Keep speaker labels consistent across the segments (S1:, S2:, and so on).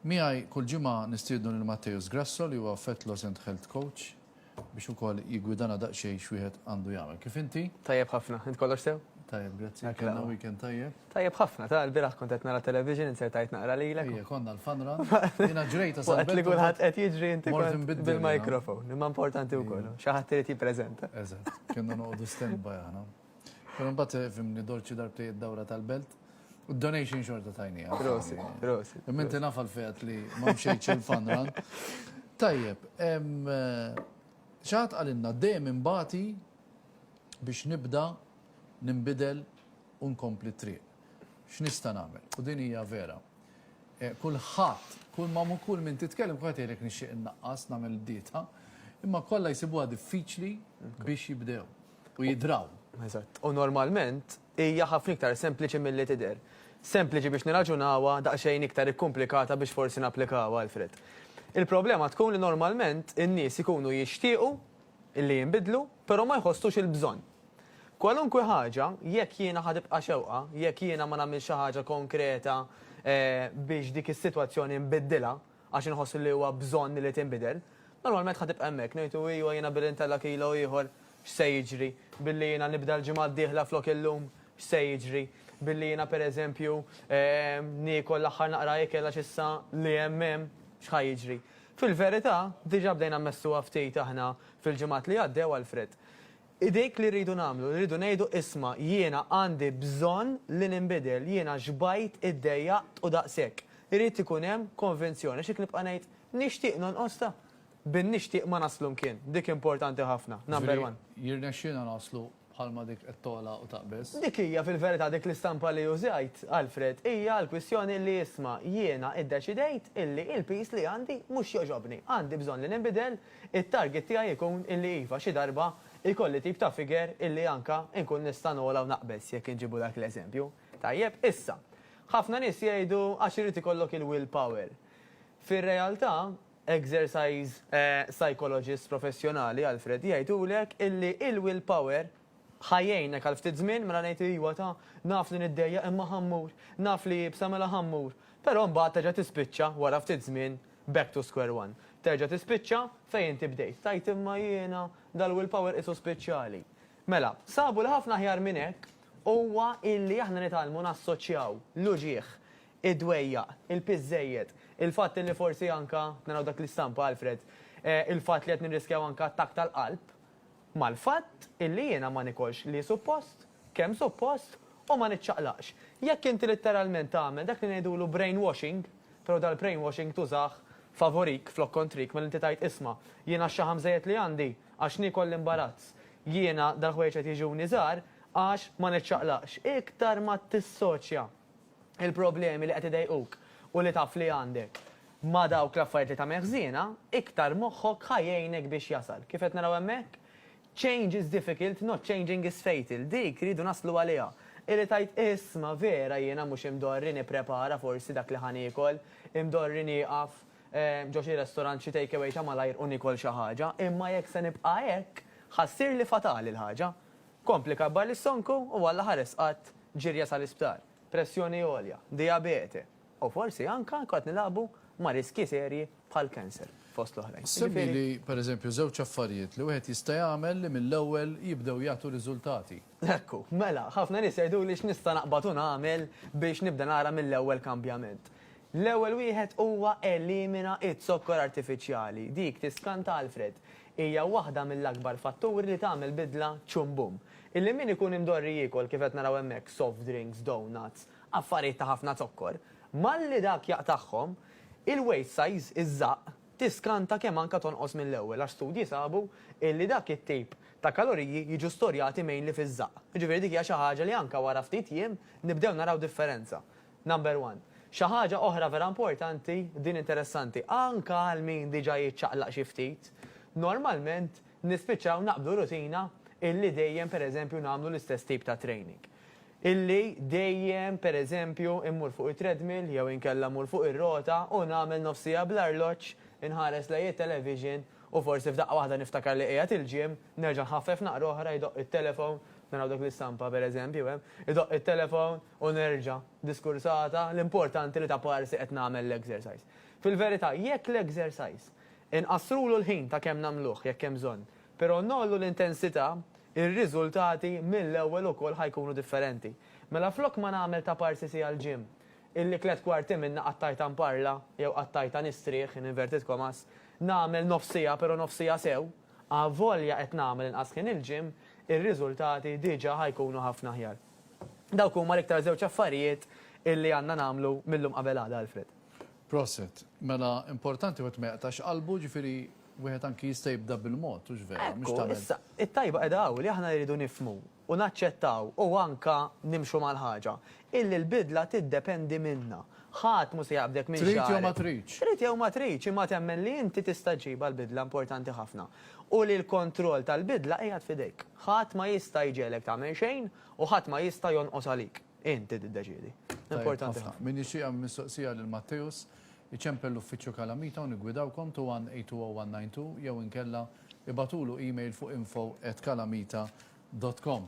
S1: Miegħi kull ġimgħa nistiednu lil Matthäus Grasso li huwa Fat Loss and Health Coach biex ukoll jiggwidana daqsxejn x'wieħed għandu jagħmel. Kif inti? Tajjeb ħafna. Int kollox
S2: sew? Tajjeb, grazzi. Kellna
S1: weekend tajjeb? Tajjeb ħafna. Tara
S2: l-bieraħ kont qed nara television, insertajt naqra lilek. Ejja, konna l-fun run.
S1: Jiena ġrejta sa. Waqt li kulħadd qed jiġri
S2: inti kont bil-microphone. Imma importanti wkoll. Xi ħadd irid jippreżenta. Eżatt. Kienna noqogħdu
S1: standby aħna. Pero mbagħad eh, fimni dolċi darbtejt dawra tal-belt. U donation xorta tajni. Prosit, prosit.
S2: Minti nafa l-fejat
S1: li ma mxejċ il-fanran. Tajjeb, eh, ċat għalinna dejjem imbati biex nibda nimbidel u nkompli triq. X'nista' nagħmel? U din hija vera. Eh, kulħadd, kull ma mu kull min titkellem kulħadd jgħidlek nixtieq innaqqas nagħmel dieta, imma kollha jsibuha diffiċli biex jibdew. u jidraw. Eżatt. U
S2: normalment hija ħafna iktar sempliċi milli tidher. Sempliċi biex nirraġunawha, daqsxejn iktar ikkumplikata biex forsi napplikawha, Alfred. Il-problema tkun li normalment in-nies ikunu jixtiequ li jinbidlu, però ma jħossux il-bżonn. Kwalunkwe ħaġa, jekk jiena ħa tibqa' xewqa, jekk jiena ma nagħmilx xi ħaġa konkreta biex dik is-sitwazzjoni nbiddilha, għax inħoss li huwa bżonn li tinbidel, normalment ħa tibqa' hemmhekk, ngħidu iva jiena billi ntella' kilo ieħor x'se jiġri, billi jiena nibda l-ġimgħa d-dieħla flok illum x'se jiġri, billi jiena pereżempju niekol l-aħħar naqra ikel għax issa li hemm hemm x'ħa jiġri. Fil-verità, diġà bdejna mmessuha ftit aħna fil-ġimgħat li għaddew, Alfred. Hi dik li rridu nagħmlu, li rridu ngħidu, isma', jiena għandi bżonn li ninbidel, jiena xbajt, iddejjaqt u daqshekk. Irid ikun hemm konvinzjoni għax jekk nibqa' ngħid, nixtieq nonqos ta', bin-nixtieq ma naslu mkien. Dik importanti ħafna. Number one. Jiġifieri, jirnexxina naslu
S1: bħalma dik qed togħla u taqbeż? Dik hija fil-verità
S2: dik l-istampa li użajt, Alfred, hija l-kwistjoni li isma', jiena iddeċidejt illi l-piż li għandi mhux jogħġobni. Għandi bżonn li ninbidel, It-target tiegħi jkun illi iva xi darba jkolli tip ta' figure illi anka nkun nista' nogħla u naqbeż jekk inġibu dak l-eżempju. Tajjeb, issa, ħafna nies jgħidu għax irid ikollok il-will power. Fir-realtà, exercise psychologist professjonali, Alfred, jgħidulek illi il-will power Ħa jgħinek għal ftit żmien, mela ngħid ijwa ta, naf li niddejjaq imma ħa mmur, naf li iebsa mela ħa mmur. Però imbagħad terġa' tispiċċa, wara ftit żmien, back to square one. Terġa' tispiċċa fejn inti bdejt, tgħid imma jiena dal-will power qisu spiċċali. Mela, sabu li ħafna aħjar minn hekk huwa illi aħna nitgħallmu nassoċjaw l-uġigħ, id-dwejjaq, il-piż żejjed, il-fatt illi forsi anka, naraw dak l-istampa Alfred, il-fatt li qed nirriskjaw anka attakk tal-qalb, mal-fatt illi jiena ma nikolx li suppost, kemm suppost, u ma niċċaqlaqx. Jekk inti litteralment tagħmel dak li ngħidulu brainwashing, però dal-brainwashing tużah favorik flok kontrik mela inti tgħid isma', jien għax-xaħam żejjed li għandi, għax niekol l-imbarazz, jiena dal-ħwejjeġ qed jiġuni żgħar għax ma niċċaqlaqx. Iktar ma tissoċja. il-problemi li qed idejquk u li taf li għandek ma' dawk l-affarijiet li tagħmel ħżiena, iktar moħħok ħa jgħinek biex jasal. Kif qed naraw hemmhekk? Change is difficult, not changing is fatal. Dik rridu naslu għaliha. Hi li tgħid, Isma', vera jiena mhux imdorri nipprepara forsi dak li ħa niekol, imdorri nieqaf ġo xi restorant, xi take away ta' malajr u niekol xi ħaġa, imma jekk se nibqa' hekk, ħa ssirli fatali l-ħaġa. Kompli kabbar lis-sonku u Alla ħares qatt ġirja sal-isptar, pressjoni għolja, dijabete u forsi anke jkun qed nilagħbu ma' riskji serji bħal cancer, fost l-oħrajn. Semmili, per
S1: eżempju, żewġ affarijiet li wieħed jista' jagħmel li mill-ewwel jibdew jagħtu riżultati. Hekk hu. Mela,
S2: ħafna nies jgħiduli x'nista' naqbad u nagħmel biex nibda nara mill-ewwel kambjament. L-ewwel wieħed huwa elimina z-zokkor artifiċjali. Dik tiskanta Alfred. hija waħda mill-akbar fatturi li tagħmel bidla txum bum. Illi min ikun imdorri jiekol, kif qed naraw hemmhekk, soft drinks, donuts, affarijiet ta' ħafna zokkor, malli dak jaqtagħhom, il-waist size, iż-żaqq, tiskanta kemm anke tonqos mill-ewwel għax studji sabu illi dak it-tip ta' kaloriji jiġu storjati mainly fiż-żaqq. Jiġifieri dik hija xi ħaġa li anke wara ftit jiem nibdew naraw differenza. Number one. Xi ħaġa oħra vera importanti, din interessanti, anke għal min diġà jiċċaqlaq xi ftit, normalment nispiċċaw naqbdu rutina illi dejjem per eżempju nagħmlu l-istess tip ta' training. Illi dejjem per eżempju mmur fuq it-treadmill jew inkella mmur fuq ir-rota u nagħmel nofs siegħa bl-arloġġ, inħares lejn it-television u forsi f'daqqa waħda niftakar li qiegħed il-gym, nerġa' nħaffef naqra oħra, jdoqq it-telephone, naraw dik l-istampa per eżempju hemm, idoqq it-telephone, U nerġa', diskursata, l-importanti li ta' parsi qed nagħmel l-exercise. Fil-verità, jekk l-exercise, inqassrulu l-ħin ta' kemm nagħmluh, jekk hemm bżonn, però ngħollu l-intensità, ir-riżultati mill-ewwel ukoll ħa jkunu differenti. Mela flok ma nagħmel ta' parsi siegħa l-gym, illi tliet kwarti minnha qattajtha nparla, jew qattajtha nistrieħ, in inverted commas, nagħmel nofs siegħa però nofs siegħa sew, avolja qed nagħmel inqas ħin il-gym, ir-riżultati diġà ħa jkunu ħafna aħjar. Dawk huma l-iktar żewġ affarijiet illi għandna nagħmlu mil-lum qabel għada, Alfred. Proset.
S1: Mela importanti wieħed ma jaqtax qalbu, jiġifieri wieħed anki jista' jibda bil-mod, hux vera? Mhux tagħmel. Ekku, issa, it-tajba qiegħda
S2: hawn li aħna rridu nifhmu u naċċettaw u anka nimxu mal-ħaġa illi l-bidla tiddependi minna. Ħadd mhu se jaqbdek minn xagħrek. Trid jew ma tridx.
S1: Trid jew
S2: ma
S1: tridx, imma
S2: temmen li inti tista' ġġibha l-bidla importanti ħafna. u li l-kontroll tal-bidla qiegħed f'idejk. Ħadd ma jista' jġegħlek tagħmel xejn u ħadd ma jista' jonqos għalik. Int li tiddeċiedi. Importanti ħafna. Tajjeb ħafna. Min jixtieq jagħmel mistoqsija
S1: lil Matteus, iċempel l-Uffiċċju Kalamita u niggwidawkom 21820 192 jew inkella ibagħtulu email fuq info@kalamita.com.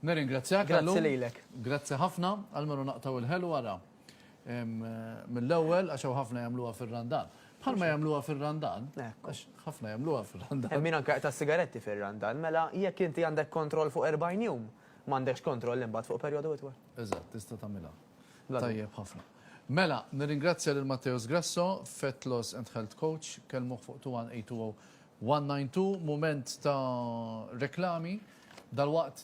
S1: Nirringrazzjak, Allu. Grazzi lilek.
S2: Grazzi ħafna.
S1: Almenu naqtgħu l-ħelu ara. mill-ewwel għax hawn ħafna jagħmluha fir-Randan. Bħalma jagħmluha fir-Randan, għax ħafna
S2: jagħmluha
S1: fir-Randan. Hemm min anke jaqta' s-sigaretti
S2: fir-Randan, mela jekk inti għandek kontroll fuq 40 jum, m'għandekx kontroll imbagħad fuq perjodu itwal. Eżatt, tista' tagħmilha.
S1: Tajjeb
S2: ħafna.
S1: Mela, nirringrazzja lil Matteo Sgrasso, Fat Loss and Health Coach, kellmuh fuq 21820 192, mument ta' reklami, dalwaqt